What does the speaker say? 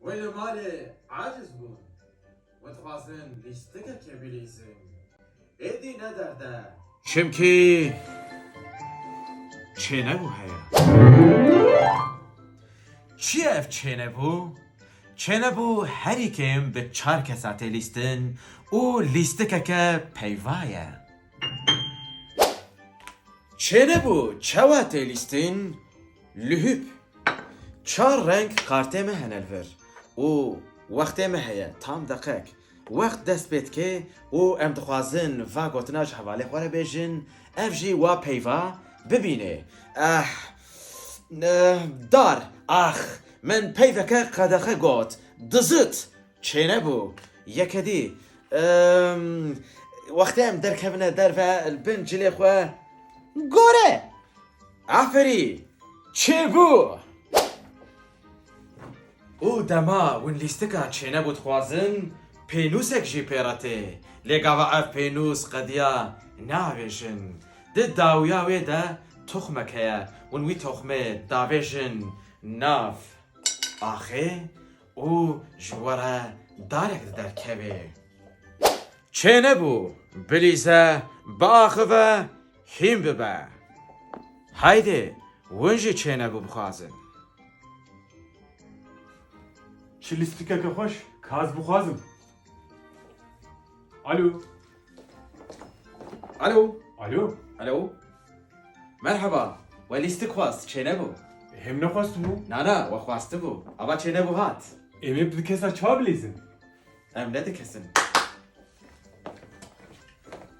Wê li malê aciz bûn û dixwazin lîstikekê bilîzin. Êdî ne derd e. Çimkî çênebû heye. Çi ye ev çênebû? Çênebû herî kêm bi çar kesa tê lîstin û lîstikeke peyva ye. Çênebû çawa tê lîstin? Li hûb çar reng kartê me hene li vir û wextê me heye tam deqek. Wext dest pê dike û em dixwazin va gotina ji hevalê xwe re bêjin, ev jî wa peyva bibînê. Eh! Eh! Dar! Ax! Min peyveke qedexe got. Dizit! Çênebû. Yeke dî. Emm! Wextê em derkevine derve li bin cilê xwe. Gore! Aferî! Çêbû! Û dema win lîstika çênebû dixwazin pênûsek jî pê re tê. Lê gava ev pênûs qediya navêjin. Di dawiya wê de toxmek heye. Win wî toxmê davêjin nav axê û ji we re darek di derkevê. Çênebû, bilîze, biaxive, Hîn bibe. Heydê win jî çêne ku bixwazin. Çi lîstikeke xweş ka ez bixwazim. Alo. Alo. Alo. Alo. Merheba. We lîstik xwest, çêne bû. Him nexwestibû. Na na, we xwestibû. Ava çêne bû hat. Em ê bi dikesa çawa bilezin? Em ne dikesin.